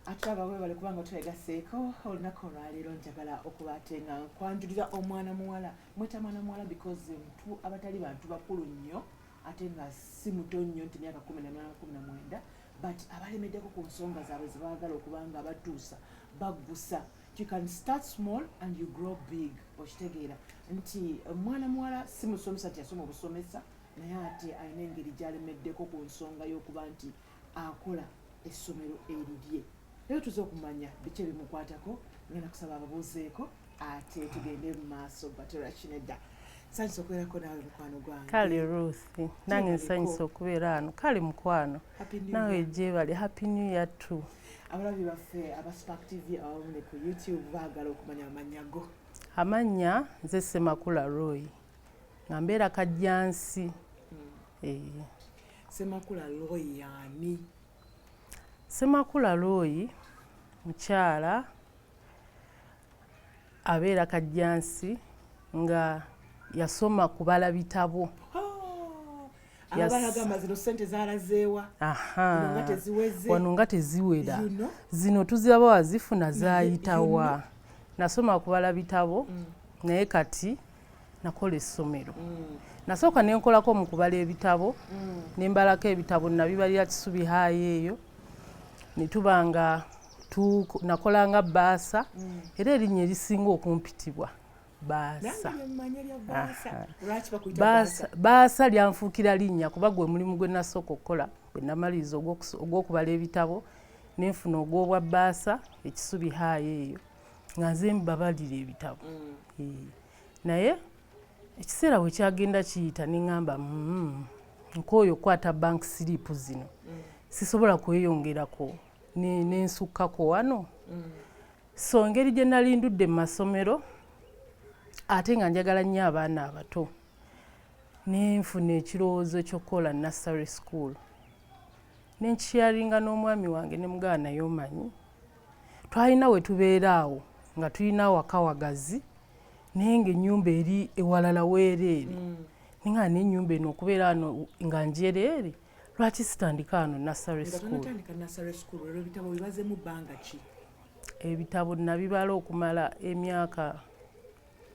atulaba webale kubanga twegaseeko olunaku olwaleero njagala okuba ate nga nkwanjulira omwana muwala mweta mwana muwala because mtu abatali bantu bakulu nnyo ate nga si muto nnyo nti myaka kumi naminana kumi namwenda but abalemeddeko ku nsonga zaabwe zebagala okuba nga batuusa baggusa you can start small and you grow big okitegeera nti omwana muwala si musomesa nti yasoma obusomesa naye ate alina engeri gyalemeddeko ku nsonga y'okuba nti akola essomero erirye naye tuze okumanya biki ebimukwatako ngenda kusaba ababuuzeeko ate tugende mu maaso batera kinedda nsanyusa okubeerako naawe mukwano gwange kale ruth nange nsanyusa okubeera ano kale mukwano nawe gyebali happy new year t abalabi baffe aba spark tv abamu ne ku youtube baagala okumanya amannya go amannya nze semakula royi nga mbeera kajjansi hmm. semakula looyi yaani semakula looyi mukyala abeera kajjansi nga yasoma kubala bitabo oh. wano nga teziwera zino tuziraba wazifuna zayitawa nasoma kubala bitabo mm. naye kati nakola essomero mm. nasooka nenkolako mu kubala ebitabo mm. nembalako ebitabo nabibalira kisubi haayi eyo netuba nga nakolanga baasa mm. era erinnya erisinga okumpitibwa baasa baasa lyanfuukira linnya kuba gwe mulimu gwe nasooka okukola bwe namaliriza ogwokubala ebitabo nenfuna ogwobwa baasa ekisubi haayi eyo nga nze mbabalira ebitabo mm. eh, naye ekiseera bwe kyagenda kiyita ne ŋŋamba mm, nkooyo okukwata bank siriipu zino mm. sisobola kweyongerako nensukkako wano so ngeri gye nali ndudde mu masomero ate nga njagala nnyo abaana abato nenfuna ekirowoozo ky'okukola nursery school ne nkisheyaringa n'omwami wange ne mugawa naye omanyi twalina we tubeera awo nga tulina awaka wagazi naye ng'ennyumba eri ewalala weereere mm. ninga n'ennyumba eno okubeera ano nga njereere lwaki sitandika ano nasary schoolebitabo nabibala okumala emyaka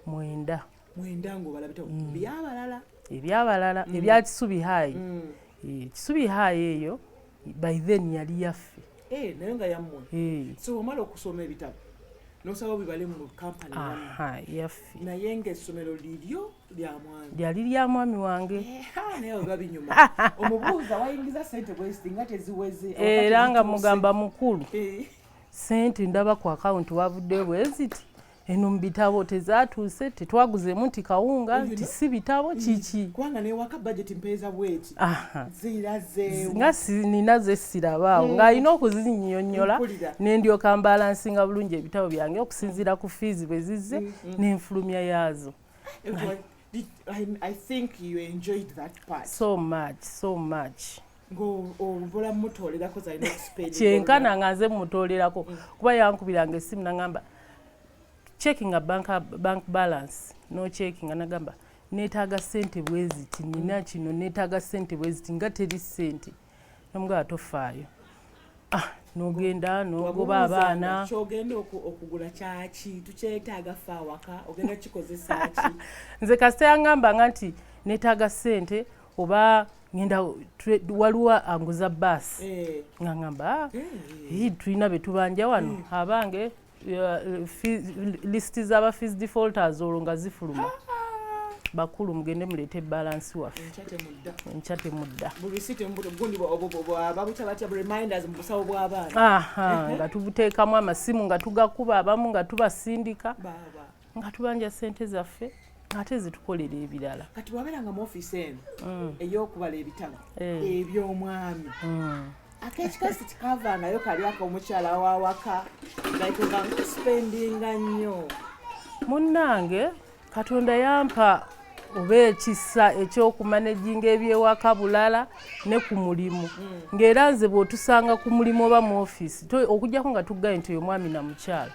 mwenda mwenda ng'obalabita mm. byabalala ebyabalala mm. ebya kisubi hayi mm. eh, kisubi hayi eyo by then yali yaffe eh, naye nga yammwe eh. so omala okusoma ebitabo nosaba bibale mu kampani yaffe naye ngaessomero liryo lyamwami lyali lya mwami wange naye oba binyuma omubuuza wayingiza sente bwesti nga teziweze era nga mugamba mukulu sente ndaba ku akawunti wavuddeyo bweziti eno mu bitabo tezatuuse tetwaguzemu nti kawunga nti si bitabo mm. kiki kubanga newaka bajeti mpeeza bweki zirazeewo nga sinina zesirabaawo mm. ng'alina okuzinyonyola nendyoka mbalansinga bulungi ebitabo byange okusinziira ku fiizi bwe zizze mm, n'enfulumya yaazo I, I think you enjoyed that part so much so much kyenkana nga nze mumutoolerako mm. kuba yankubiranga esimu nagamba checkinga bank, bank balance nocheckinga nagamba netaaga sente bweziti nina mm. kino netaaga sente bweziti nga teri sente nomugaba tofaayo ah, nogenda nogoba abaana kyogenda okugula kyaki tukyetaaga fe awaka ogenda kikozesaki nze kasita yangambanga nti netaaga sente oba ngenda waliwo anguza baasi eh. nga ngamba ah, eh. tulina betubanja wano hmm. abange lisiti zaba fees defaulters olwo nga zifuluma ah, ah. bakulu mugende muleete balansi waffe enkya temudda nga tubuteekamu amasimu nga tugakuba abamu nga tubasindika nga tubanja sente zaffe ate zitukolera ebirala kati wabeera nga muofiisi eno mm. eyokubala ebitabo eh. ebyomwami mm. akekikasi tikavaanayo kali ako omukyala wawaka gaituga nkusipendinga nnyo munnange katonda yampa oba ekisa ekyokumanejinga ebyewaka bulala ne ku mulimu mm. ngaera nze bwotusanga ku mulimu oba mu ofiisi okujjako nga tuggaye nti oyo mwami na mukyala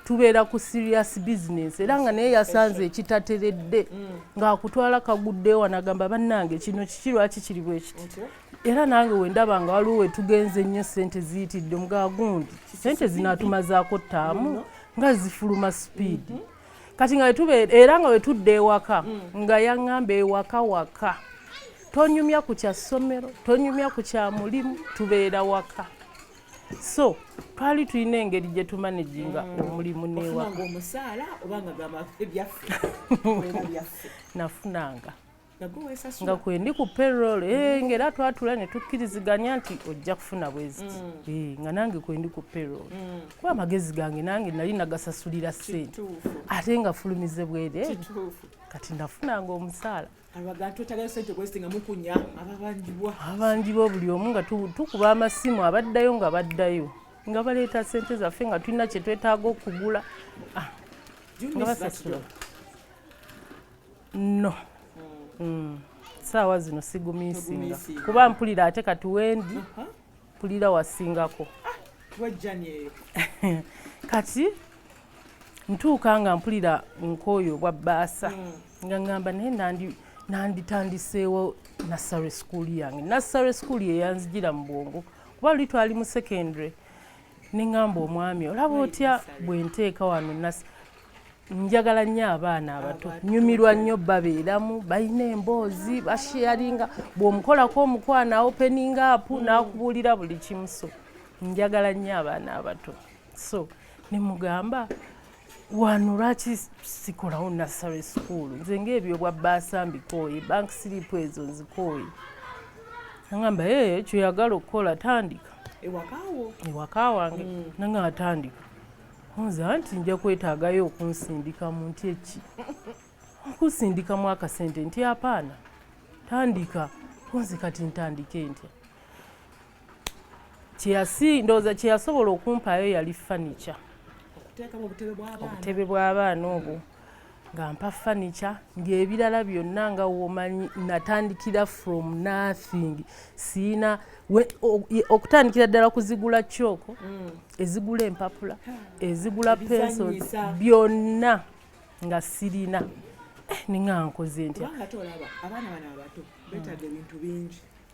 tubeera ku serious business era nga naye yasanze ekitateredde mm. ng'akutwala kagudde wanagamba bannange kino kiki lwaki kiri bwe kiti era nange wendaba nga waliwo wetugenze nnyo sente ziyitidde omugaa gundi sente zinatumazaako ttaamu nga zifuluma speed mm-hmm. kati nga wetubeera era nga wetudde ewaka mm. nga yaŋŋamba ewaka waka tonyumya ku kya ssomero tonyumya ku kya mulimu tubeera waka so twali tulina engeri gye tumanaginga mm. omulimu newaanafunanga nga kwendi ku perol eh, mm. ngaera twatula ne tukkiriziganya nti ojja kufuna bweziti mm. eh, nga nange kwendi ku perol kuba amagezi gange nange nali nagasasulira sente ate nga fulumize bwereere kati nafunanga omusaala abanjibwa buli omu nga tukuba amasimu abaddayo nga baddayo nga baleeta sente zaffe nga tulina kyetwetaaga okugula ah, nga basasula no hmm. Hmm. saawa zino sigumisinga kuba mpulira ate kati wendi uh-huh. mpulira wasingako kati ntuuka nga mpulira nkooyo bwa bbaasa mm. nga ngamba naye nanditandiseewo nassary school yange nassary school yeyanzijira mu bwongo kuba luli twali mu secondary neŋamba omwami olaba otya bwenteeka wano njagala nnyo abaana abato nyumirwa nnyo babeeramu balina emboozi basheyaringa bw'omukolako omukwano awopeninga apu mm. n'akubuulira buli kimu so njagala nnyo abaana abato so ne mugamba wano lwaki sikolawo nassary school nze ngaebyobwa baasa mbikooye bank siripu ezo nzikooye nagamba ee kyoyagala okukola tandika ewaka wange mm. nanga atandika nze anti nja kwetaagayo okunsindikamu nti eki okusindikamu akasente nti apaana tandika kunze kati ntandike ntya kyeyasi ndowooza kyeyasobola okumpaayo yali fanica obutebe bw'abaana obwo nga mpa furniture ng'ebirala byonna nga womanyi natandikira from nothing siina okutandikira ddala kuzigula kyoko mm. ezigula empapula ezigula penso byonna nga sirina eh, ninga nkoze ntya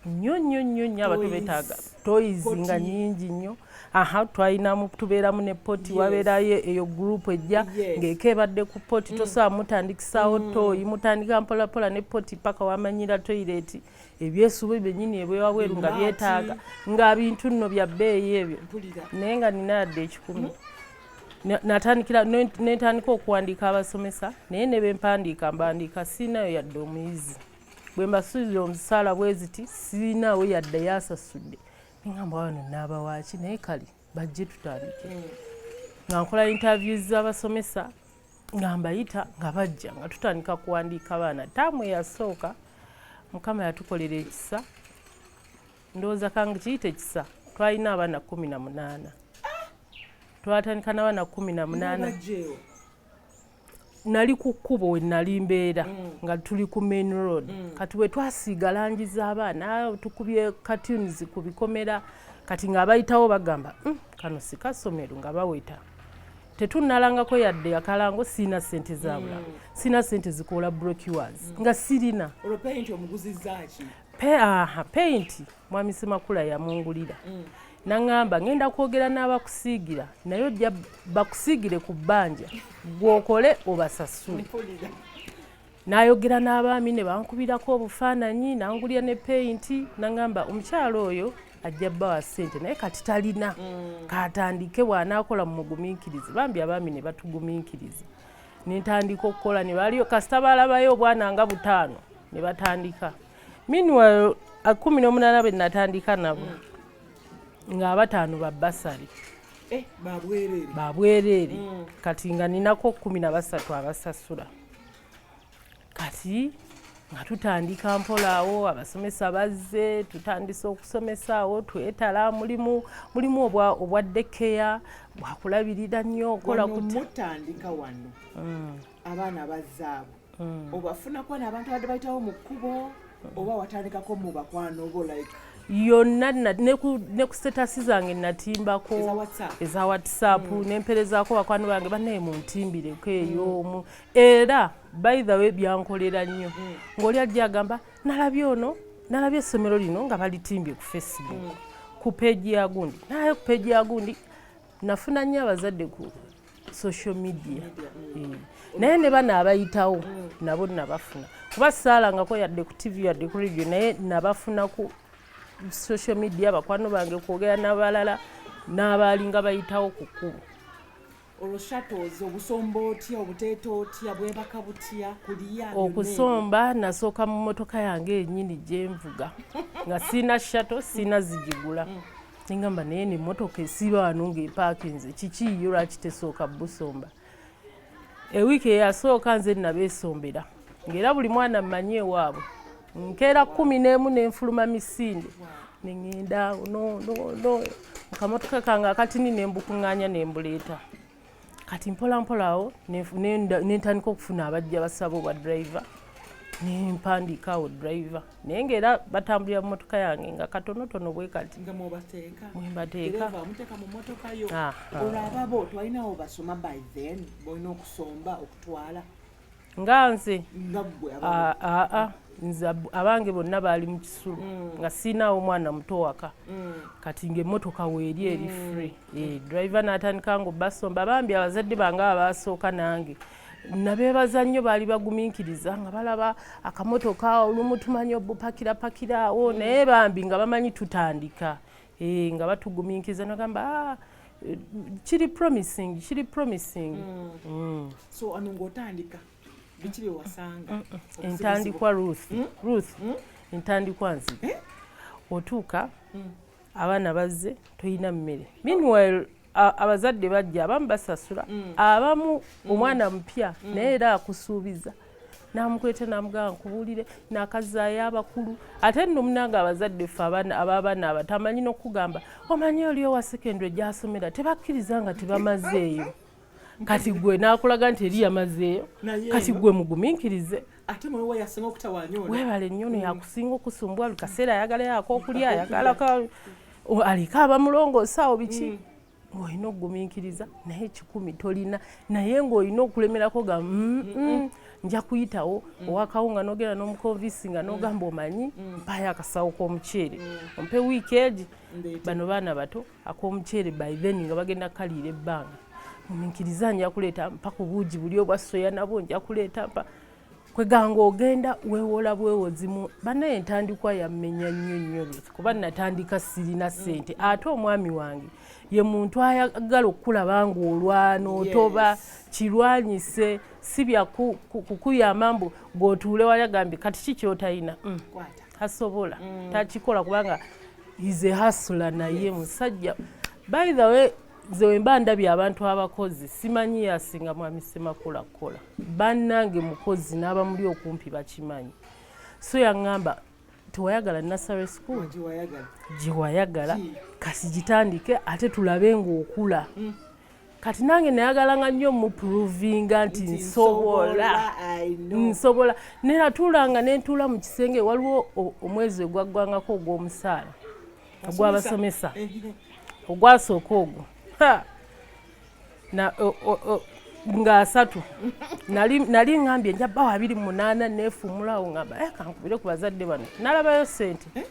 nnyo nnyo nnyo nnyo abatu betaaga toyizi nga nyingi nnyo aha twalinamu tubeeramu ne poti yes. wabeerayo eyo gurupu ejja yes. ng'eko ebadde ku poti mm. tosobola mutandikisaawo mm. toyi mutandika mpolapola ne poti paka wamanyira toyireti ebyesuubi byenyini ebwewabweru nga byetaaga nga bintu nno bya bbeeyi ebyo naye nga nina yadde ekikumi mm. natandikira nentandika okuwandiika abasomesa naye nebempandiika mbandiika siinayo yadde omuyizi bwe mbasuubira omusaala bwe ziti sirinaawo yadde yasasudde nengamba wano naabawaaki naye kale bajje tutandike mm. nga nkola interview z'abasomesa nga mbayita nga bajja nga tutandika kuwandiika abaana taamu eyasooka mukama yatukolera ekisa ndowooza kange kiyita ekisa twalina abaana kumi na munaana twatandika n'abaana kumi na munaana nali ku kkubo we nali mbeera mm. nga tuli ku main road mm. kati bwe twasiiga langi z'abaana tukubye cartoons ku bikomera kati ng'abayitawo bagamba mm, kano si kasomero nga baweta tetunnalangako yadde akalango sirina sente zabula mm. sirina sente zikoola brocuars mm. nga sirina peyinti mwami semakula yamungulira mm. naŋŋamba ŋŋenda kwogera n'abakusiigira naye ojja bakusiigire ku bbanja gwokole obasasule nayogera n'abaami ne bankubirako obufaananyi nangulira ne peyinti naŋŋamba omukyalo oyo ajja bbawa ssente naye kati talina mm. katandike bw'anaakola mu mugumiikirizi bambi abaami ne batugumiikiriza ne ntandika okukola ne baliyo kasita balabayo obwana nga butaano ne batandika meanwhile kumi n'omunana be natandika nabo mm. nga abataano ba basale eh, babwereere mm. kati nga ninako kumi na basatu abasasula kati nga tutandika mpola abasomesa bazze tutandise okusomesa awo twetala mulimu mulimu obwa obwa dekeya bwakulabirira nnyo okola kutandika wano mm. abaana bazaabo mm. obafunako nabantu abadde bayitawo mu kkubo oba watandikako mu bakwano bo like yonna ne ku sitatasi zange natimbako eza whatsapp mm. nemperezaako bakwano bange banaye muntimbireko eyo mm. omu era by the way byankolera nnyo mm. ngaoli ajja agamba nalabye ono nalabye essomero lino nga balitimbye ku facebook mm. ku peji ya gundi nalabe ku peji ya gundi nafuna nnyo abazadde ku social media mm. naye ne bana abayitawo mm. nabo nabafuna kuba saalangako yadde ku tv yadde ku radio naye nabafuna ku social media bakwano bange kwogera n'abalala n'abaalinga bayitawo ku kkubo olushatozi obusomba otya obuteeta otya bwebaka butya kuliya okusomba nasooka mu motoka yange yenyini gyenvuga nga siina shato siina zigigula mm. nengamba naye nemotoka esiba wano ngaepakinze kiki yo lwaki tesooka busomba ewiiki eyasooka nze nabesombera ngaera buli mwana mmanyi ewaabwe nkeera kumi n'emu nenfuluma misinde nengenda no, no, no. mukamotoka kange akatini nembukuŋŋanya nembuleeta kati mpola mpola awo nentandika okufuna abajja basaba obwa driver nempandiika awo driver naye nga era batambulira mu motoka yange nga katonotono bwe kati mwembateeka nga nze ah, ah, ah. nze abange bonna baali mu kisulu mm. nga siinaawo omwana muto waka mm. kati ngaemmotoka weeri eri mm. free eh, drive n'atandika nga obasomba bambi abazadde bange abaasooka nange nabeebaza nnyo baali bagumiikiriza nga balaba akamotoka olumu tumanyi obupakirapakiraawo naye bambi nga bamanyi tutandika Eh, nga batuguminkiza nagamba ah, kiri promising kiri promising mm. Mm. so ano ngaotandika biki byewasanga mm, mm. entandikwa ruth mm? ruth mm? entandikwa nzi eh? otuuka mm. abaana bazze tolina mmere meanwhile abazadde bajja abamu basasula mm. abamu mm. omwana mupya mm. naye era akusuubiza namukweta namugamba nkubuulire nakazaayo abakulu ate nno munange abazadde ffe ababaana aba tamanyi nokugamba omanyi oli owa secondary gyasomera tebakkiriza nga tebamazeeyo kati gwe nakulaga nti eri yamazeeyo kati gwe muguminkirize ate mwe wa yasinga okutawanya ono webale nnyo no yakusinga okusumbwa buli kaseera ayagala yako okulya ayagala aliko abamulongoosa awo biki mm. ng'olina okugumiikiriza naye kikumi tolina naye ng'olina okulemerako ga mm, mm, nja kuyitawo owakawo nga nogenda n'omukonvinsi nga nogamba omanyi mpayo akasawo k'omuceere ompe wiiki egi bano baana bato ak'omuceere by then nga bagenda kukaliira ebbanga mumiikiriza nja kuleeta mpa ku buugi buli obwa soya nabwo nja kuleeta mpa kweganga ogenda wewola bwewozimu banaye entandikwa yammenya nnyo nnyo kuba natandika sirina sente ate omwami wange ye muntu ayagala okukulaba ngaolwana otoba kirwanyise si byakukuyamba mbu gwotuule wayagambye kati ki kyotayina mm. tasobola mm. takikola kubanga ize hasula naye musajja by the way nze wemba ndabye abantu abakozi simanyi yasinga mwami semakula kukola bannange mukozi n'abamuli okumpi bakimanyi so yaŋŋamba tewayagala nasare school gyewayagala kasi gitandike ate tulabe ng'okula hmm. kati nange nayagala nga nnyo muprovinga nti nsobola nsobola nenatuulanga nentuula mu kisenge waliwo omwezi ogwaggwangako ogw'omusaala ogwabasomesa ogwasooka ogwo nga asatu nali ngambye nja bawo abiri munaana neefumulawo ngamba eh, kankubire ku bazadde bano nalabayo sente eh?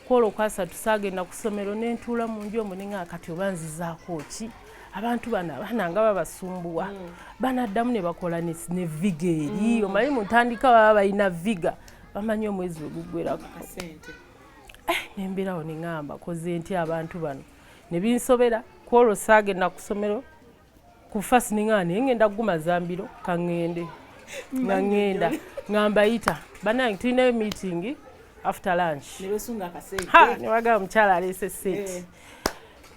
kwolwo okwasatu saagenda ku ssomero nentuula mu nju omu ninga kati oba nzizaako ki abantu bano abaana nga babasumbuwa mm. banaddamu ne bakola ne viga eri mm. omanyi mu ntandika baba balina viga bamanyi omwezi weguggwerako eh, nemberawo neŋamba koze nti abantu bano nebinsobera kwolwo saagenda ku ssomero ku fasi neŋaa naye ngenda kuguma zambiro kaŋŋende nga ŋŋenda nga mbayita banange tulinayo miitingi after lunch newagaba mukyala aleese seeti eh.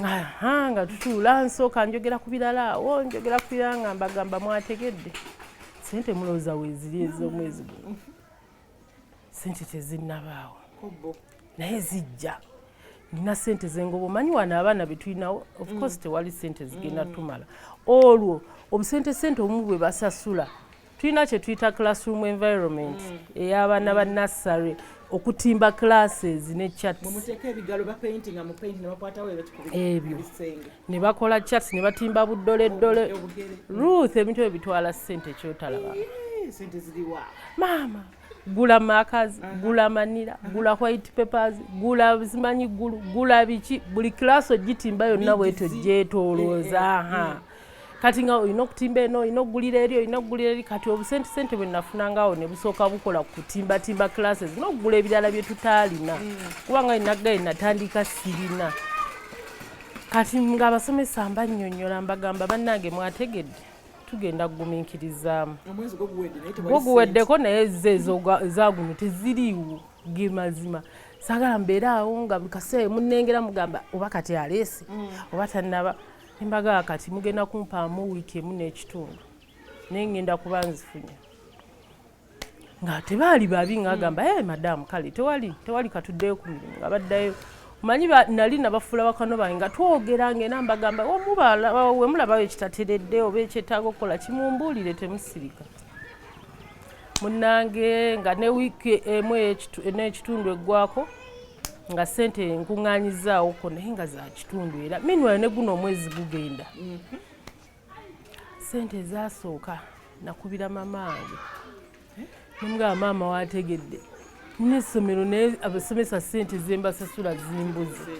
aha nga tutuula nsooka njogera ku birala awo njogera ku birala nga mbagamba mwategedde sente mulowooza weeziri ez'omwezi guno sente tezinnabaawo naye zijja nina sente zengoba omanyi wano abaana betulinawo ofcourse mm. tewali sente zigenda mm. tumala olwo obusente sente omu bwe basasula tulina kyetuyita classroom environment mm. ey'abaana ba nassary okutimba classes ne chats ebyo ne bakola chats ne batimba buddoleddole ruth ebintu ebyo bitwala ssente kyotalaba maama gula makazi gula manira gula white papers gula zimanyi gulu gula biki buli class ogitimba yonna bwetyo gyetolooza eh, eh, ha eh. kati nga olina okutimba eno olina okugulira eri olina okugulira eri kati obusente sente bwe nafuna ngawo ne busooka bukola ku kutimbatimba classes n'okugula ebirala bye tutaalina mm. kubanga inagaye natandika sirina kati ng'abasomesa mbanyonyola mbagamba bannange mwategedde tugenda kuguminkirizaamu gwo guweddeko naye ze ezaguno teziriiwo ge mazima sagala mbeere awo nga buli kaseera munengera mugamba oba kati aleese mm. oba tannaba embaga kati mugenda kumpaamu wiiki emu n'ekitundu naye ngenda kuba nzifunya nga tebaali babi ngaagamba e madamu kale tewali tewali katuddeyo ku mirimu nga baddayo manyi nali nabafuula bakano bange nga twogera ngena mbagamba wemulabawo ekitateredde oba ekyetaaga okukola kimumbuulire temusirika munange nga ne wiiki emu n'ekitundu eggwako nga sente nkuŋŋanyizaawoko naye nga za kitundu era minwale ne guno omwezi gugenda mm-hmm. sente ezasooka nakubira mama wange nemugaba maama wategedde nina essomero naye abasomesa sente zembasasula zimbuzi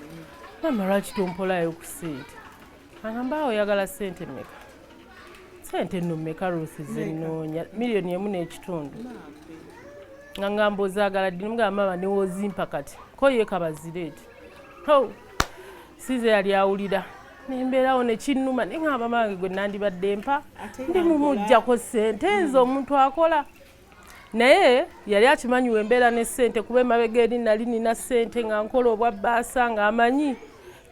maama lwaki tompolayo ku sente agamba awo oyagala sente meka sente no meka rusi zenoonya miliyoni emu n'ekitundu nga ngamba ozagala ddi nemugaba maama newozimpa kati koyekabazireti ho size yali awulira nembeerawo nekinnuma naye ngamba bange gwe nandibadde mpa ndi mumujjako ssente nze omuntu akola naye yali akimanyi wembeera ne ssente kuba emabega eri nali nina ssente nga nkola obwa bbaasa ng'amanyi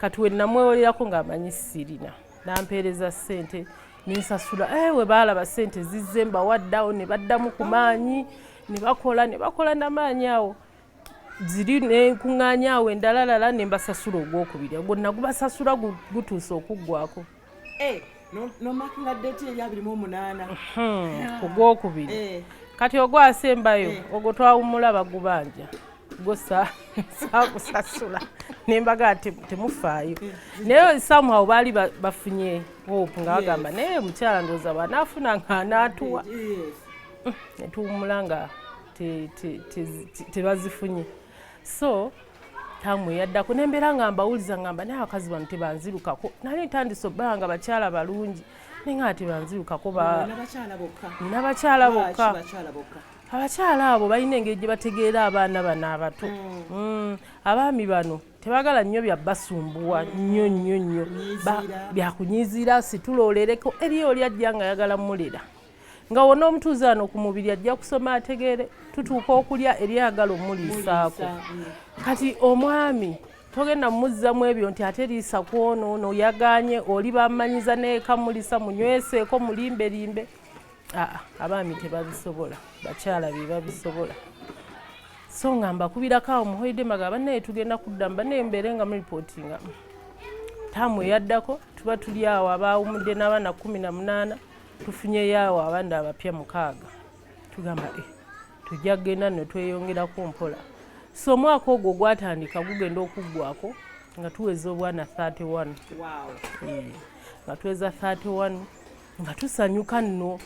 kati wenamwewolerako ng'amanyi sirina nampeereza ssente nensasula eh, we baalaba ssente zizze mbawaddawo ne baddamu ku maanyi ne bakola ne bakola namaanyi awo ziri nenkuŋŋaanya awo endalalala ne mbasasula ogwokubiri ogwo nagubasasula gutuuse okuggwako eh, nomakinga deti eri abiri mu omunaana hmm, ogwokubiri eh. kati ogwasembayo eh. ogwo twawumula bagubanja gwo sakusasula nembaga temufaayo naye somehow baali bafunye hope nga bagamba naye mukyala ndooza banaafuna nga anaatuwa netuwumula nga tebazifunye so tamu yaddako nembeera nga mbawuliza ngamba naye abakazi bano tebanzirukako nali ntandise obbala nga bakyala balungi naye nga tebanzirukako nina bakyala bokka abakyala abo balina engeri gye bategeera abaana bano abato mm. Mm. abaami bano tebagala nnyo byabasumbuwa nnyo nnyo nnyo byakunyiziira situla olereko eriyo oli ajja nga ayagala mulera nga wona omutuuze ano ku mubiri ajja kusoma ategeere tutuuka okulya eryagala omuliisaako mm. kati omwami togenda muzzamu ebyo nti ate liisa kwono ono yaganye oli bamanyiza neeka mulisa munyweseeko mulimbe limbe aa abaami tebabisobola bakyala be babisobola so nga mbakubirako awo muhoide maga banaye tugenda kudda mbanaye mbeere nga muripotinga taamu eyaddako tuba tuli awo abaawumudde n'abaana kumi na munaana tufunyeyo awo abandi abapya mukaaga tugamba e tujja kugenda no tweyongerako mpola so omwaka ogwo gwatandika gugenda okuggwako nga tuweza obwana 31 eh, nga tuweza 31 nga tusanyuka nno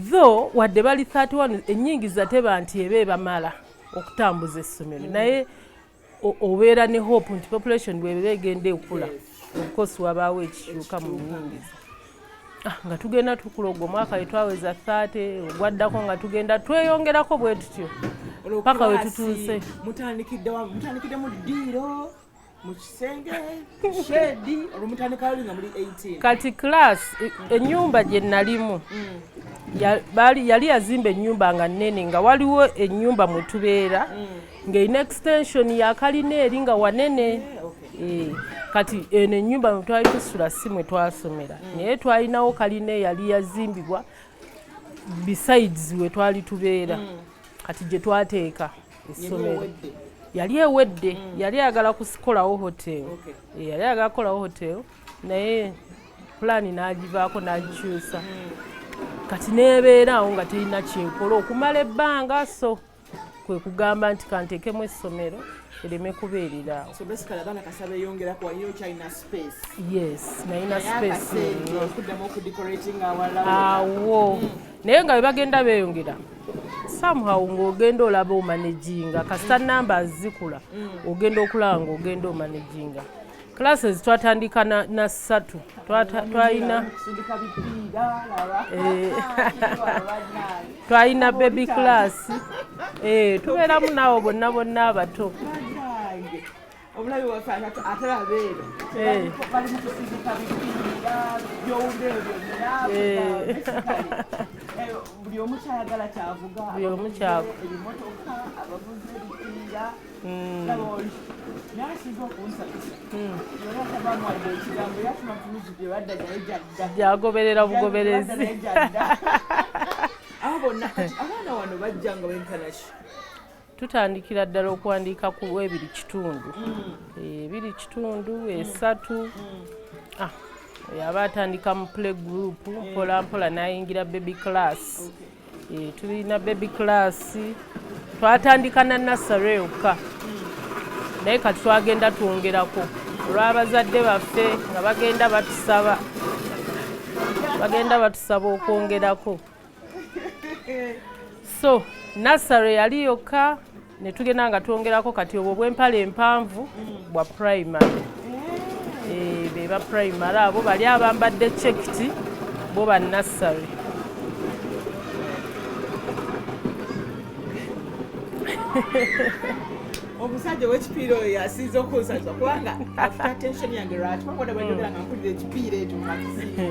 tho wadde bali 31 ennyingiza teba nti eba ebamala okutambuza essomero mm. naye mm. obeera ne hope nti population bwebera egenda ekula obukosi wabaawo ekikyuka mu buyingiza ah, nga tugenda tukula ogwo omwaka wetwaweza 30 ogwaddako nga tugenda tweyongerako bwe tutyo paka wetutuuse mutandikidde mu ddiiro kati class e, enyumba gye nalimu mm. yali yazimba enyumba nga nene nga waliwo enyumba mwetubeera mm. ng'erina extension ya kalina eri nga wanene eh, kati eno ennyumba mwe twali tusula si mwe twasomera mm. naye twalinawo kalina eyali yazimbibwa besides we twali tubeera mm. kati gye twateeka essomero yali ewedde mm. yali ayagala kukolawo hotel eh, yali ayagala kukolawo hotel naye pulaani n'agivaako n'agikyusa kati n'ebeera awo nga terina kyekola okumala ebbanga so kwe kugamba nti kanteekemu essomero ereme kubeerera awo yes nalina spaceawo hmm. naye nga bebagenda beyongera somehow ngaogenda olaba omanaginga kasita hmm. namba zikula hmm. ogenda okulaba ngaogenda omanaginga classes twatandika na, na satu twalina eh, twalina baby class eh, tubeeramu naawo bonna bonna abato buli omu kyagala kyavuga buli omu kyavu gyagoberera bugoberezi tutandikira ddala okuwandiika ku ebiri kitundu ebiri mm. eh, kitundu esatu mm. ah, yaba atandika mu play group mpolampola nayingira baby class okay. Eh, tulina baby class twatandika na nassary yokka naye kati twagenda twongerako olw'abazadde baffe nga bagenda batusaba bagenda batusaba okwongerako so nassary yali yokka ne tugenda nga twongerako kati obwo bwempala empanvu bwa primary eh, be ba primary abo bali abambadde cekiti bo ba nassary omusajja wekipiira oyo yasinza okunsazwa kubanga afta tension yange lwaki bakoda bajogera nga mpulira ekipiira ekyo mumatisinga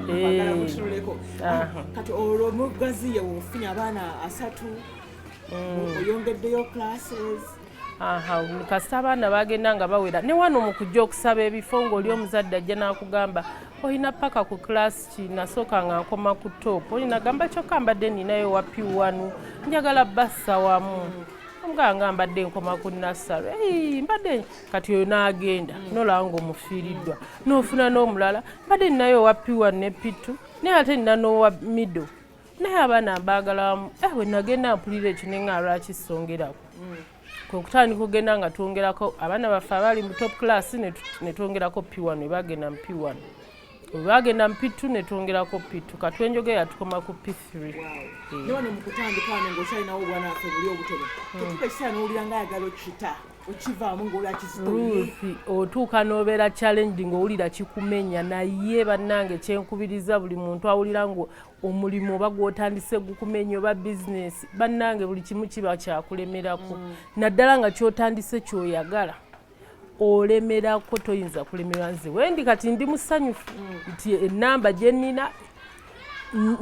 eh. kati olwo omugazi ye wofunye abaana asatu mm. oyongeddeyo classes aha kasita abaana bagenda nga bawera ne wano mu kujja okusaba ebifo ng'oli omuzadde ajja n'akugamba olina paka ku class ki nasooka nga nkoma ku top olina gamba kyokka mbadde ninayo wapi wanu njagala bassa wamu omugaa nga mbadde nkoma ku nassalo mbadde kati oyo n'agenda mm. nolaba ng'omufiiriddwa n'ofuna n'omulala mbadde ninayo wapi wanu ne pitu naye ate nina n'owa middle naye abaana mbagalamu eh, bwe nagenda mpulira ekyo ne nga lwaki songerako mm. kwe kutandika okugenda nga twongerako abaana baffe abaali mu top class ne twongerako p1 ne bagenda mu p1 bwe bagenda mu p2 ne twongerako p2 katwenjoge yatukoma ku p3 newano mu kutandika wano ng'okyalinawo obwana affe buli obutono hmm. tetuka ekiseera n'owulira nga ayagala okita okivaamu ng'olwa kizitoruusi otuuka n'obeera challenging owulira kikumenya naye bannange kyenkubiriza buli muntu awulira omulimu oba gwotandise gukumenya oba bizinesi bannange buli kimu kiba kyakulemerako mm. naddala nga kyotandise kyoyagala olemerako toyinza kulemerwa nze wendi kati ndi musanyufu mm. nti enamba gyenina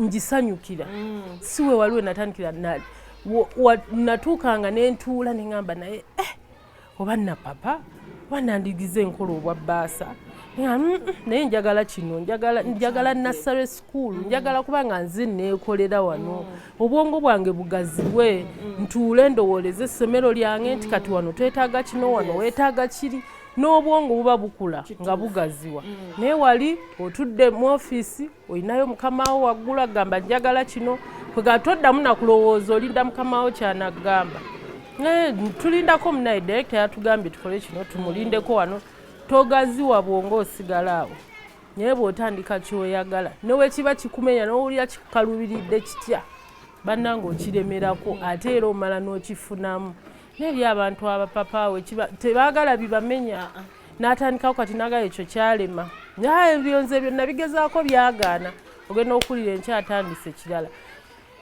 ngisanyukira mm. siwe waliwe natandikira natuukanga nentuula neŋamba naye eh, oba napapa oba nandigize enkola obwa bbaasa mm, naye njagala kino njagala nassare school njagala kuba nga nze neekolera wano mm. obwongo bwange bugaziwe mm. ntuule ndowooleze essomero lyange nti kati wano twetaaga kino wano weetaaga kiri n'obwongo buba bukula nga bugaziwa naye wali otudde mu ofiisi olinayo mukamawo waggula gamba njagala kino kwegala toddamu nakulowooza olinda mukamawo kyanagamba eh, tulindako munaye direkita yatugambye tukole kino tumulindeko wano togaziwa bwonga osigala awo naye bwotandika kyoyagala newekiba kikumenya nowulira kikukalubiridde kitya bannanga okiremerako ate era omala n'okifunamu naye eri abantu abapapaawe tebaagala bibamenya n'atandikawo kati naga ekyo kyalema naye ebyonze ebyo nabigezaako byagaana ogenda okuwulira enkya atandise ekirala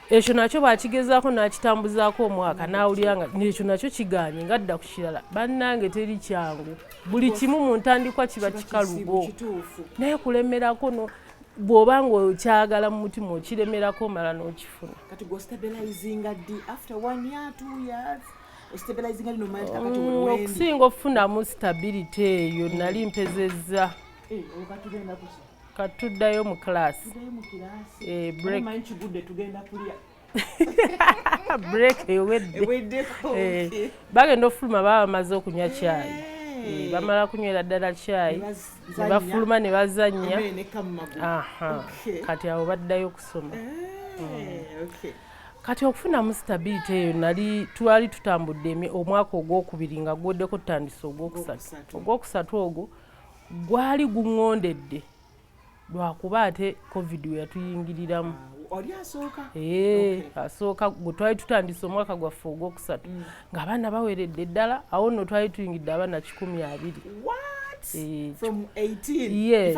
ekyo nakyo bakigezaako nakitambuzaako omwaka nawulira nga ekyo nakyo kiganye nga dda ku kirala bannange teri kyangu buli kimu mu ntandikwa kiba kikalubo naye kulemerako no bwoba nga okyagala mu mutima okiremerako omala nokifuna Mm, okusinga okufunamu stability eyo mm. nali mpezezza eh, katuddayo mu class eh, break ewedde eh, bagenda okufuluma baba bamaze okunywa kyayi bamala kunywera ddala kyayi nebafuluma ne bazannya kati awo baddayo okusoma mm. Kati okufunamu sitabiriti eyo nali twali tutambudde omwaka ogwokubiri nga gwoddeko tutandise ogwokusatu ogwokusatu ogwo gwali guŋŋondedde lwakuba ate covid we yatuyingiriramu ah, oli asooka ee eh, asooka gwe twali tutandise omwaka gwaffe ogwokusatu mm. ng'abaana baweredde ddala awo nno twali tuyingidde abaana kikumi abiri eh, yes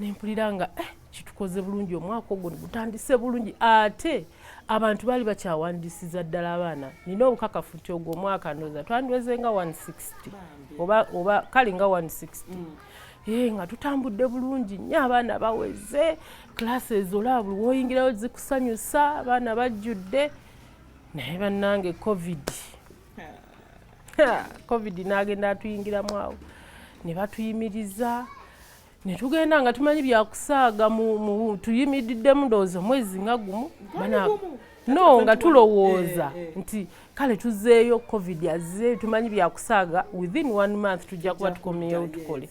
nempulira nga eh, kitukoze bulungi omwaka ogwo gutandise bulungi ate abantu baali bakyawandisiza ddala abaana nina obukakafu nti ogwo omwaka ndoza twandiweze nga 160 oba, oba kale nga 160 mm. Hey, eh, nga tutambudde bulungi nyo abaana baweze classes olaba buli woyingirayo zikusanyusa abaana bajjudde naye bannange covid covid n'agenda atuyingiramu awo ne batuyimiriza ne tugenda nga tumanyi byakusaaga tuyimiriddemu ndowooza omwezi nga gumu no nga tulowooza eh, eh. nti kale tuzeeyo covid azze tumanyi byakusaaga within one month tujja kuba tukomyewo tukole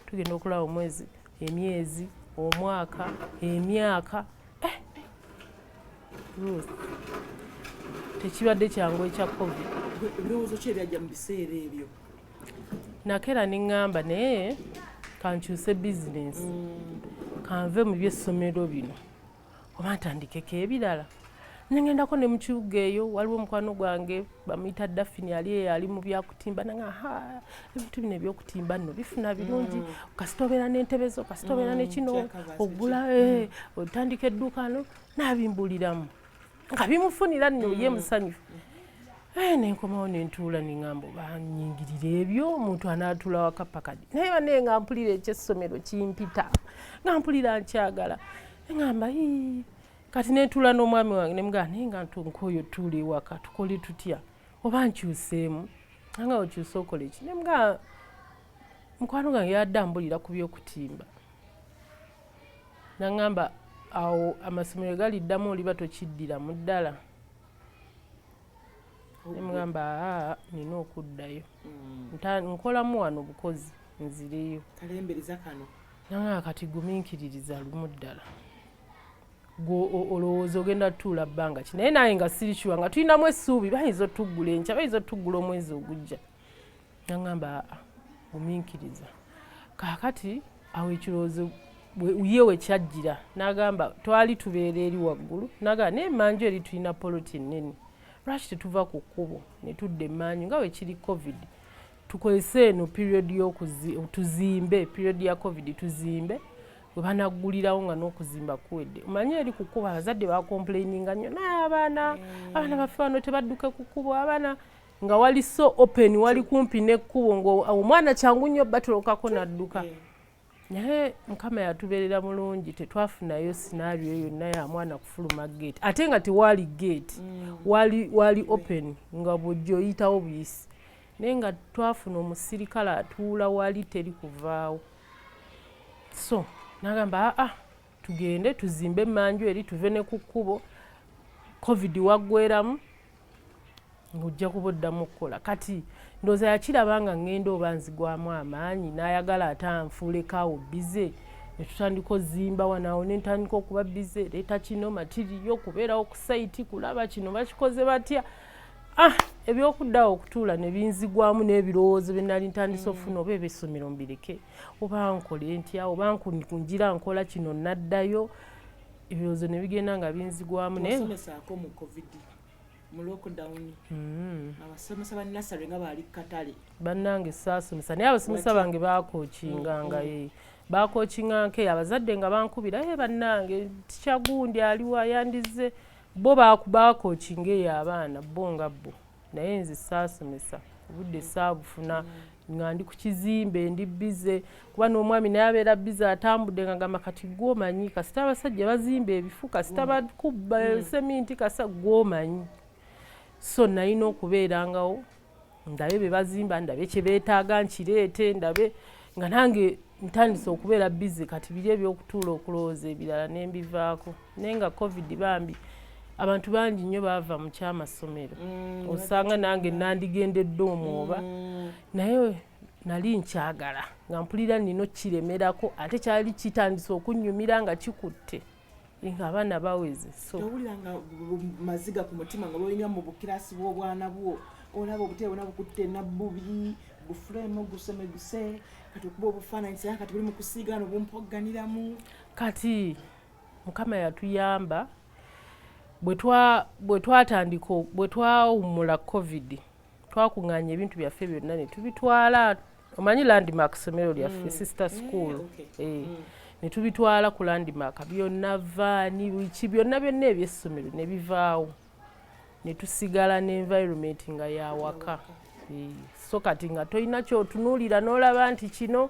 tugenda okulaba omwezi emyezi omwaka emyaka tekibadde kyangu ekya covid ebirowoozo ki ebyajja mu biseera ebyo nakeera ne ŋŋamba naye kankyuse bizinensi mm. kanve mu byessomero bino oba ntandikeko ebirala nengendako ne mu kibuga eyo waliwo omukwano gwange bamuyita dafini ali eyo ali mu byakutimba nanga ha ebintu bino ebyokutimba nno bifuna birungi mm. kasita obeera n'entebe zo kasita obeera mm, nekino ogula eh, mm. otandika edduuka no nabimbuliramu nga bimufunira nno ye musanyufu eh, nenkomawo nentuula nengamba banyingirira ebyo omuntu anaatula wakapakadi naye banaye nga mpulira ekyessomero kimpita nga mpulira nkyagala engamba kati netuula n'omwami wange nemugaa naye nga ntunka oyo tuula ewaka tukole tutya oba nkyuseemu anga okyuse okola eki nemugaa mukwano gange yadde ambulira ku byokutimba naŋamba awo amasomero galiddamu oliba tokiddira mu ddala nemugamba aa nina okuddayo mm. nkolamu wano obukozi nzireyo naŋaa kati guminkiririza lumu ddala olowooza ogenda tutuula bbanga ki naye naye nga siri kiwa nga tulinamu essuubi bayinza otuggula enkya bayinza otuggula omwezi ogujja naŋamba ominkiriza kaakati awo ekirowoozo ye wekyajjira nagamba twali tubeera eri waggulu nagamba naye emanju eri tulina poloti nnene lwaki tetuva ku kkubo ne tudda emanju nga wekiri covid tukozese eno period tuzimbe period ya covid tuzimbe webanaggulirawo nga n'okuzimba kuwedde omanyi eri ku kkubo abazadde bakomplaininga nnyo naye abaana mm. abaana baffe bano tebadduke ku kkubo abaana nga wali so open wali kumpi n'ekkubo ngaomwana kyangu nnyo batulokako n'adduka naye mukama yatuberera mulungi tetwafunayo sinario yonna ya mwana kufuluma gate ate nga tewaali gate mm. wali, wali open nga bwojjoyitawo buyisi naye nga twafuna omusirikale atuula wali teri kuvaawo so nagamba aa ah, ah, tugende tuzimbe emanju eri tuve ne ku kkubo covid waggweramu ng'ojja kuba oddamu okukola kati ndooza yakiraba nga ŋŋenda oba nzigwamu amaanyi n'ayagala ate anfuulekaawo bize ne tutandika ozimba wanaawo ne ntandika okuba bize leeta kino matiriyo okubeerawo ku sayiti kulaba kino bakikoze batya ah ebyokuddawo okutuula ne binzigwamu n'ebirowoozo bye nali ntandise okufuna oba ebyessomero mbireke oba nkole ntya oba nkunjira nkola kino naddayo ebirowoozo ne bigenda nga binzigwamu nayesomesaako mu covid mu lockdown mm. abasomesa ba nasary nga baali katale bannange saasomesa naye abasomesa bange baakokingangae mm, mm. baakokinganke abazadde nga bankubira e bannange tikyagundi aliwa yandize bo baakokinga eyo abaana bo nga bo naye nze saasomesa obudde saabufuna nga ndi ku kizimbe ndi bize kuba n'omwami naye abeera bize atambudde nga gamba kati gwomanyi kasita abasajja bazimba ebifu kasita mm. bakubba mm. seminti kasa gwomanyi so nalina okubeerangawo ndabe bye bazimba ndabe kye beetaaga nkireete ndabe nga nange ntandise okubeera bize kati biri ebyokutuula okulowooza ebirala nembivaako naye nga covid bambi abantu bangi nnyo baava mu kyamasomero mm, osanga nange nandigendedde omwoba mm. naye nali nkyagala nga mpulira nina okiremerako ate kyali kitandise okunyumira nga kikutte nga abaana baweze owulira nga maziga ku mutima nga lwolinya mu bukirasi bw'obwana bwo olaba obutebe bona bukutte nabbubi bufulemu gusemeguse kati okuba obufaananyi sera kati buli mu kusiiga no bumpogganiramu kati mukama yatuyamba bwe twatandika bwe twawummula covid twakung'anya ebintu byaffe byonna ne tubitwala omanyi landmark ssomero lyaffe mm. sister eh, school eh, eh. Mm. ne tubitwala ku landmark byonna vaani biki byonna byonna ebyessomero ne bivaawo ne tusigala ne environment nga yawaka so kati nga tolina kyotunuulira n'olaba nti kino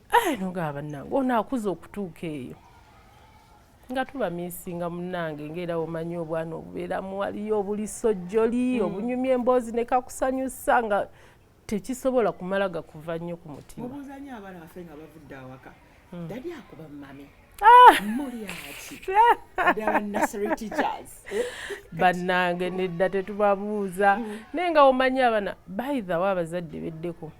Eh, nogaa bannange ono akuza okutuuka eyo nga tuba misinga munange ngaera omanyi obwana obubeeramu waliyo obulisojjoli mm. obunyumya emboozi nekakusanyusa nga tekisobola kumala gakuva nnyo ku mutima mubuuzanyo abaana bafe nga bavudde awaka mm. dadi akuba mumami ah! mulyaki bannange nedda tetubabuuza mm. naye nga omanyi abana baidhawo abazadde beddeko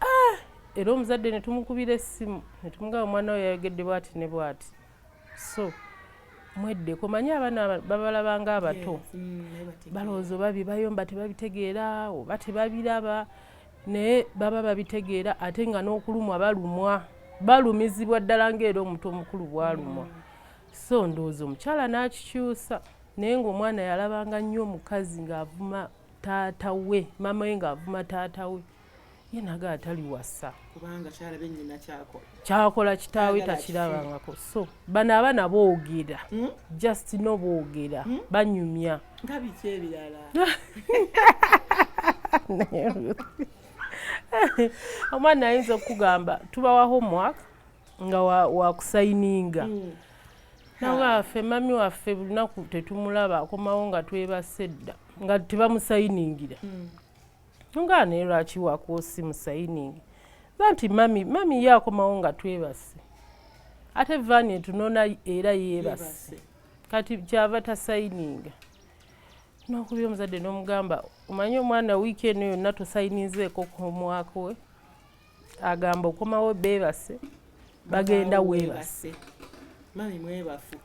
ah! era omuzadde ne tumukubira essimu ne tumugamba omwana we yayogedde bwati ne bwati so mweddeko manyi abaana babalaba nga abato mm, balowooza oba bibayomba tebabitegeera oba tebabiraba naye baba babitegeera ate nga n'okulumwa balumwa balumizibwa ddala ngaera omuntu omukulu bwalumwa mm. so ndowooza omukyala n'akikyusa naye ng'omwana yalabanga nnyo omukazi ng'avuma taata we maama we ng'avuma taata we ye naga atali wasa kubanga kyalabe nyina kyakola kyakola kitaawe takirabangako so bano abaana boogera hmm? just no boogera hmm? banyumya nga biki ebirala omwana ayinza okukugamba tubawa homework nga wakusayininga wa hmm. nawe affe mami waffe bulunaku tetumulaba akomawo nga twebase dda nga tebamusayiningira nga naye lwaki wakwosi musayiningi ba nti mami mami ye akomawo nga twebase ate vaani etunona era yeebase kati kyava tasayininga nokubi omuzadde nomugamba omanye omwana wiiki eno yonna tosayininzeeko komwaka we agamba okomawo beebase bagenda weebase mami mwebafu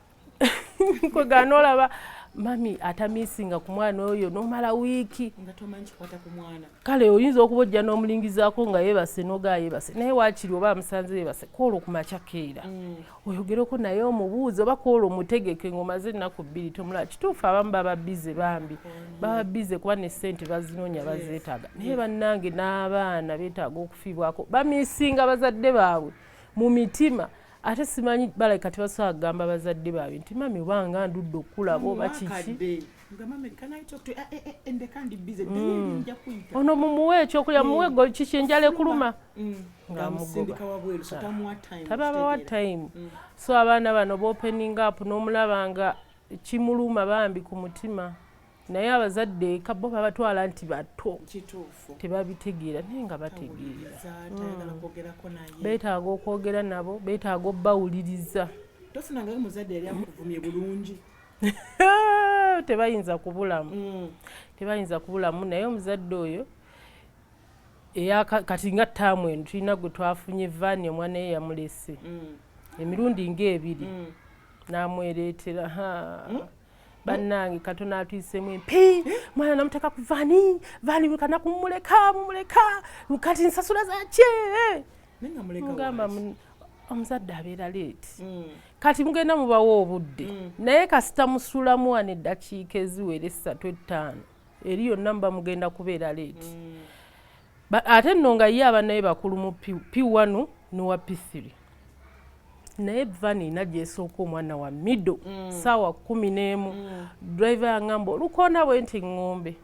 kwegana olaba mami atamisinga ku mwana oyo nomala wiiki kale oyinza okuba ojja n'omulingizaako nga yebase noga yebase naye wakiri oba amusanze yebase kwola okumakya keera mm. oyogereko naye omubuuzi oba kwola omutegeke ngaomaze ennaku bbiri tomulaba kituufu abamu baba bize bambi baba bize kuba ne ssente bazinoonya bazeetaaga naye bannange n'abaana beetaaga okufiibwako bamisinga bazadde baabwe mu mitima ate simanyi bala kati basobola kugamba bazadde baabye nti mami obanga ndudde okukulaba oba kiki eh, eh, eh, mm. ono mumuwe ekyokulya mm. muwe gol kiki enjala ekuluma mm. ngamugotababawa time so abaana bano bopening up n'omulaba nga kimuluma bambi ku mutima naye abazadde eka bo babatwala nti bato tebabitegeera naye nga bategeera hmm. betaaga okwogera nabo betaaga obbawuliriza tebayinza kubulamu hmm. tebayinza kubulamu naye omuzadde oyo eya kati nga taamu eno tulina gwe twafunye vaani omwana ye yamulese hmm. emirundi ngaebiri namwereetera bannange katono atuyisemu empi mwana namuteka ku vani vani kana kumuleka mumuleka kati nsasula zakye mugamba omuzadde abeera leeti mm. kati mugenda mubawa obudde mm. naye kasita musulamu wano eddakiika eziwera essatu ettaano eri yonna muba mugenda kubeera leeti mm. ate nno nga ye abanaye bakulu mu p1 nowa p3 naye vani nagyesooka omwana wa mido mm. saawa kumi n'emu mm. driver yangamba olukonda bwe nti ngombe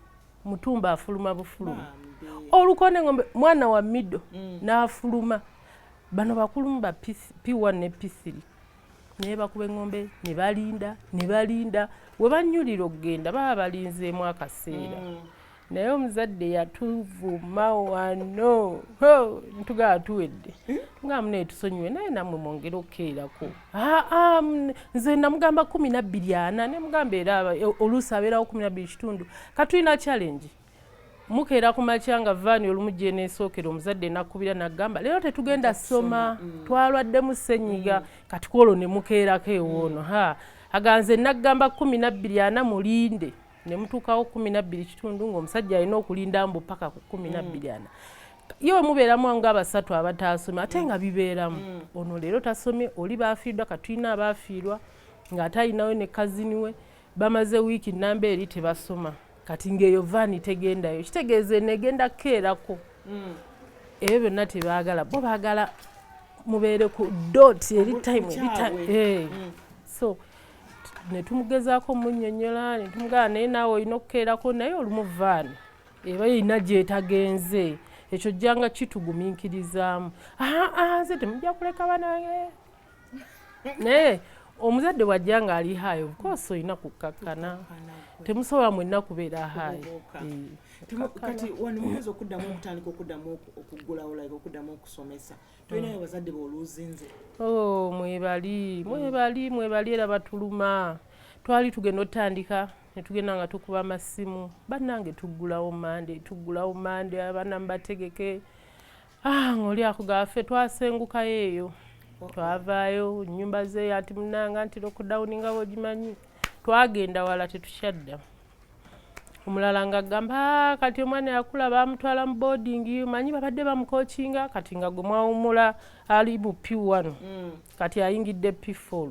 mutumba afuluma bufuluma olukonda ngombe mwana wa mido n'afuluma bano bakulumu ba p1 ne p3 naye bakuba eŋŋombe ne balinda ne balinda we bannyulira okugenda baba balinzeemu akaseera mm. naye omuzadde yatuvuma wano ntugaba tuwedde nga muna etusonyiwe naye namwe mwongere okukeerako aa nze namugamba kumi nabbiri ana nemugamba era oluusi abeerawo kumi nabbiri kitundu katulina challenge mukeera ku makya nga vaani olumu gyeneesookera omuzadde nakkubira naggamba leero tetugenda soma mm. twalwaddemu senyiga mm. kati kwolwo ne mukeerako ewoono ha aganze naggamba kumi nabbiri ana mulinde ne mutuukawo kumi nabbiri kitundu ng'omusajja alina okulinda mbu paka ku kumi mm. nabbiri ana ye omubeeramu nga abasatu abataasoma ate nga bibeeramu ono leero tasomye oli baafiirdwa katulina abaafiirwa ng'ate alinawe ne kazini we bamaze wiiki namba eri tebasoma kati ng'eyo vaani tegendayo kitegeeza eno egenda kukeerako hmm. ebyo byonna tebaagala bo baagala mubeere ku dot eri time eri time eh. hmm. so netumugezaako munyonyola netumugala naye naawe olina okukeerako naye olumu vaani eba erina gyetagenze ekyo jjanga kituguminkirizaamu nze temujja kuleka bana naye omuzadde bwajja nga ali hayi obukosi olina kukkakkana temusobola mwenna kubeera hayi eh, kati wano muyinza okuddamu okutandika okuddamu okuggulawo like okuddamu okusomesa tolinayo bazadde booluuzinze o oh, mwebali mwebali mwebali era batuluma twali tugenda otandika netugenda nga tukuba amasimu bannange tuggulawo mande tuggulawo mande abana mubategeke ah, ng'oli akugaba ffe twasengukayo eyo oh. twavaayo nyumba zeeyo anti munanga nti lockdown nga bwegimanyi twagenda wala tetukyadda omulala nga agamba ah, kati omwana yakula bamutwala mu boarding manyi babadde bamukokinga kati nga gwe mwawumula ali mu p1 mm. kati ayingidde p4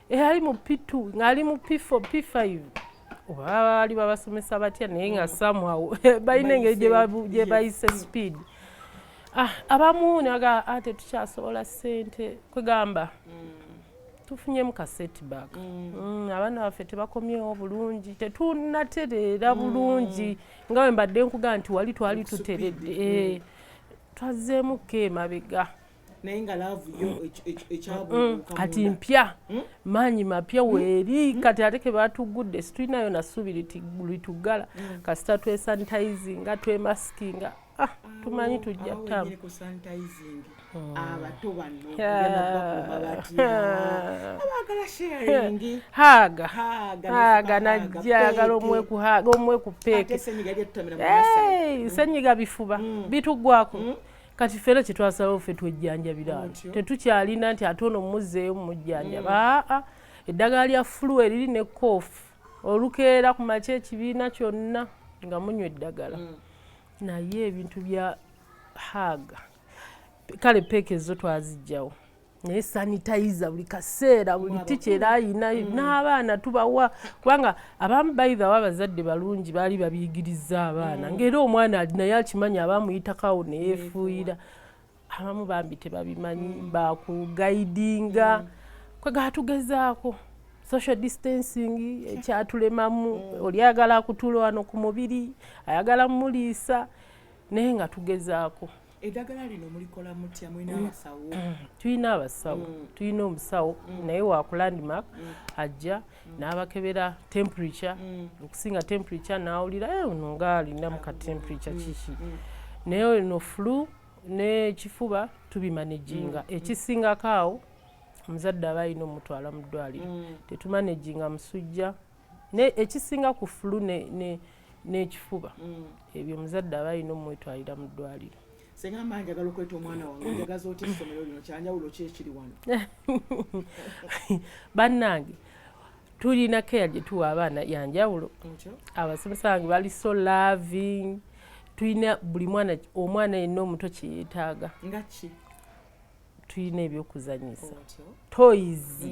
eyali mu p2 ng'ali mu p4 p5 oba baali babasomesa batya naye nga mm. somehow balina engeri gye bayise speed ah, abamu naga ah, tetukyasobola sente kwegamba mm. tufunyemu ka setback mm. abaana baffe tebakomyewo bulungi tetunatereera bulungi nga wembadde nkuga nti wali twali tuteredde eh, twazzeemuko emabega naye nga laavu yo ekyabuuka kati mpya hmm? maanyi mapya hmm? weeri hmm? kati ate ke baatuggudde situlinayo na ssuubi lituggala kasita twesanitizinga twemasikinga ah, ah, tumanyi tujja tamu abato bano haaga haaga najjagala omwe ku haaga omwe ku peeke senyiga bifuba bitugwako kati ffe era kyetwasalawo ffe twejjanjabira tetukyalina nti ate ono mumuzzeeyo mumujjanjaba mm. aa ah, ah. eddagala lya fulu eriri ne koofu olukeera ku makya ekibiina kyonna nga munywa eddagala mm. naye ebintu bya haaga kale peeka ezo twazijjawo naye sanitizer buli kaseera buli tikyera ayina mm. n'abaana tubawa kubanga abamu baidhawo abazadde balungi baali babiyigiriza abaana mm. ngaera omwana ali naye akimanyi abamuyitakawo neyefuuyira abamu bambi tebabimanyi mm. bakugaidinga kwegaba tugezaako social distancing ekyatulemamu oli ayagala akutula wano ku mubiri ayagala mumuliisa naye nga tugezaako edagala lino mulikola mutya mulina mm. abasawo mm. tulina abasawo mm. tulina omusawo naye wakulandmark ajja n'abakebera temperature okusinga temperature n'awulira eh, ono nga alinamu ka temperature kiki naye no flu n'ekifuba tubimanejinga ekisingako awo omuzadde aba alina omutwala mu ddwaliro tetumanejinga musujja ne ekisinga ku fulu n'ekifuba mm. ebyo omuzadde aba alina omwetwalira mu ddwaliro senga mba njagala okweta omwana wange njagaza oti essomero lino kyanjawulo ki ekiri wano bannange tulina keya gye tuwa abaana yanjawulo abasomesa bange bali so loving tulina buli mwana omwana yenna omuto kyeyetaaga ngaki tulina ebyokuzanyisa toyizi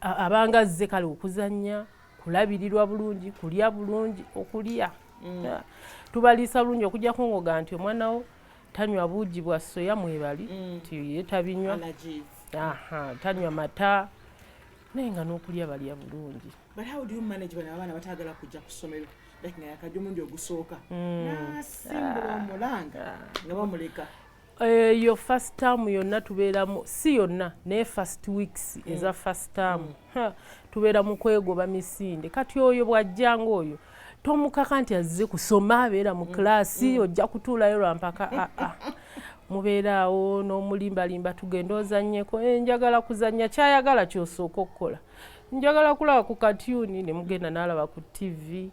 abanga azze kale okuzannya kulabirirwa bulungi kulya bulungi okulya mm. ah, tubaliisa bulungi okujja kungoga nti omwana wo tanywa buugi bwa soya mwebali mm. nti ye tabinywa tanywa mata naye nga n'okulya balya bulungi like nga yakajja omundi ogusooka mm. nasimbula ah. omulanga ah. nga bamuleka eyo uh, first term yonna tubeeramu si yonna naye first weeks mm. eza first term mm. tubeera mu kwegoba misinde kati oyo bwajjanga oyo tomukaka nti azze kusoma abeera mu kiraasi mm. mm. ojja kutuulayo lwampaka aa ah, ah. mubeeraawo n'omulimbalimba tugenda ozanyeko eh, njagala kuzanya kyayagala kyosooka okukola njagala kulaba ku katyuni ne mugenda n'alaba ku ttivi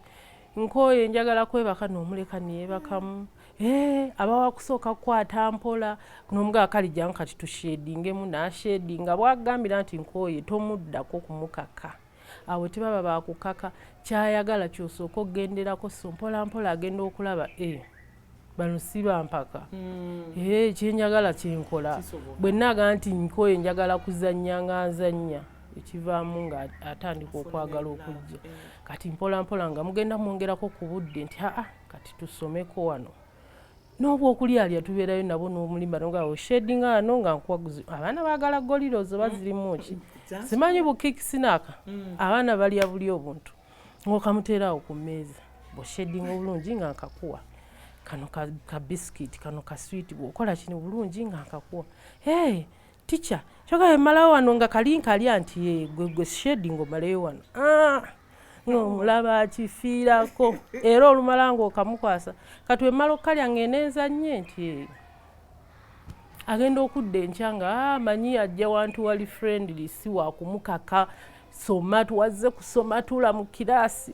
nkooye njagala kwebaka n'omuleka neyebakamu Eh, aba wakusooka kukwata mpola nomuga akali jangu kati tushedingemu nashedinga bwagambira nti nkooye tomuddako kumukaka awo tebaba bakukaka kyayagala kyosooka okugenderako so mpola mpola agenda okulaba e eh, bano si bampaka mm. e eh, kyenjagala kyenkola bwe naga nti nkooye njagala kuzannya nga nzannya ekivaamu nga atandika okwagala okujja kati mpola mpola nga mugenda mwongerako ku budde nti aa kati tusomeko wano n'obwokulyalya tubeerayo nabo n'omulimba nga oshedinga wano nga nkwaguzi abaana baagala golirozo bazirimu ki mm, simanyi bukikisinaka mm. abaana balya buli obuntu ngaokamuteeraawo ku mmeeza boshedinga obulungi nga nkakuwa kano ka bisikiti kano ka switi bwokola kino bulungi nga nkakuwa Teacher, kyoka bemalawo wano nga kalinka ali anti ye gwe gwe shade ngo maleyo wano. Ah! No mulaba kifira ko. Era olumala ngo kamukwasa. Kati wemalo kali angenenza nye nti ye. Agenda okudde enchanga ah manyi ajja wantu wali friendly si wa kumukaka. Soma tuwazze kusoma tula mu kirasi.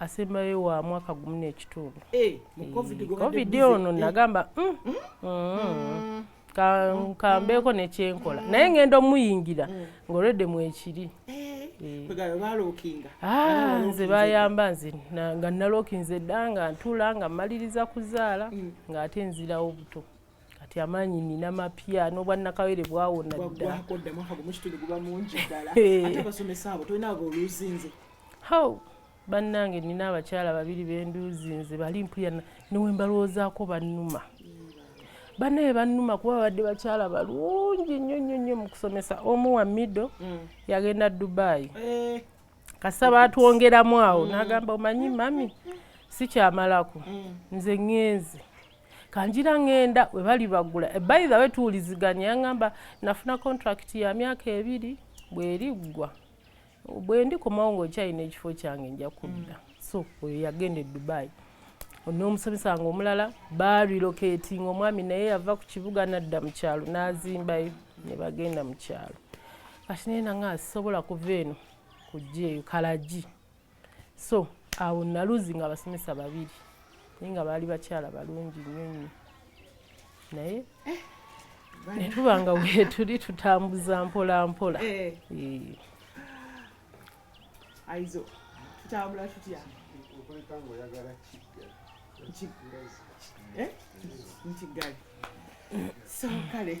asembayo wa mwaka gumu n'ekitundu eh, covid ono nagamba mm, mm, mm, kambeeko nekyenkola naye ngenda omuyingira ngaolwedde mwekiri eh, eh. ah, nze bayamba nze nga nalokinze dda nga ntula nga mmaliriza kuzaala ng'ate nzirawo buto kati amaanyi nina mapya n'obwannakawere bwawona dda How bannange nina abakyala babiri benduuzinze bali mpulira newembalowoozaako bannuma banaye bannuma kuba babadde bakyala balungi nnyo nnyo nnyo mu kusomesa omu wa mido mm. yagenda dubayi eh. kasa batwongeramu awo mm. nagamba omanyi mami sikyamalako mm. nze ŋŋenze kanjira ŋŋenda we bali bagula ebayi dhawe tuwuliziganya yangamba nafuna kontrakiti ya myaka ebiri bweriggwa bwe ndikomawo ng'okyalina ekifo kyange nja kudda mm. so oyo yagenda e dubai n'omusomesa wange omulala barilocatinga omwami naye yava ku kibuga nadda mu kyalo n'azimbayo ne bagenda mu kyalo kati naye nanga asisobola kuva eno kujja eyo kalagi so awo naluzi nga abasomesa babiri naye nga baali bakyala balungi nnyo nnyo naye eh, ne tuba nga wetuli tutambuza mpola mpola eh. eh. aizo tutambula tutya nti ggali so kale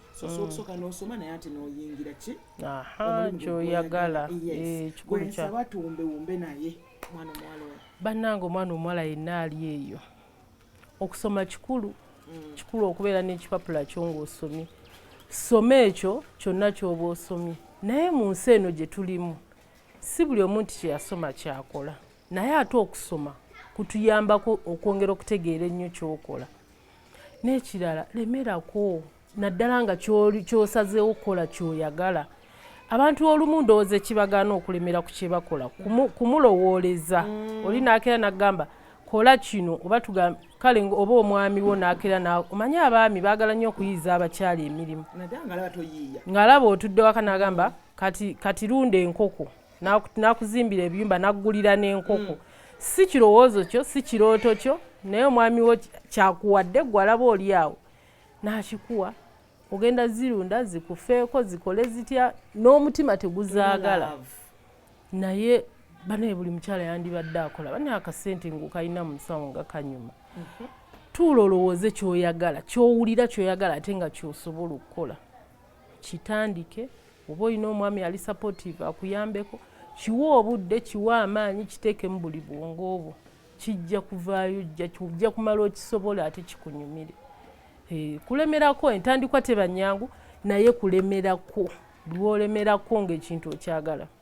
sosokusoka mm. nosoma naye ati noyingira ki kyoyagala eh, kikulu kyaba tuwumbewumbe naye mwana omuwala oyo bannange omwana omuwala yenna ali eyo okusoma kikulu mm. kikulu okubeera n'ekipapula kyo ng'osomye soma ekyo kyonna kyoba osomye naye mu nsi eno gye tulimu si buli omu nti kyeyasoma kyakola naye ate okusoma kutuyambako okwongera okutegeera ennyo kyokola n'ekirala lemerako naddala nga kyosazeewo okukola kyoyagala abantu olumu ndowooza ekibagaana okulemera ku kyebakola kumulowooleza mm. oli naakera nagamba kola kino oba tugamba kale oba omwami wo naakera naawe omanye abaami baagala nnyo okuyiiza abakyala emirimu ng'alaba otudde waka nagamba kati lunda enkoko nakuzimbira ebiyumba nakugulira n'enkoko mm. si kirowoozo kyo si kirooto kyo naye omwami wo kyakuwadde gwe alaba oli awo nakikuwa ogenda zirunda zikufeeko zikole zitya n'omutima teguzaagala naye banaye buli mukyala yandibadde akola banaye akasente ngaokalina mu musawo nga kanyuma mhm. tuula olowooze kyoyagala kyowulira kyoyagala ate nga kyosobola okukola kitandike oba olina omwami ali supportive akuyambeko kiwe obudde kiwe amaanyi kiteeke mu buli bwongo obwo kijja kuvaayo jja kumala okisobola ate kikunyumire eh, kulemerako entandikwa tebanyangu naye kulemerako lwolemerako ngaekintu okyagala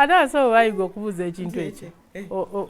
ate abasawo bayiga okubuuza ekintu ekyo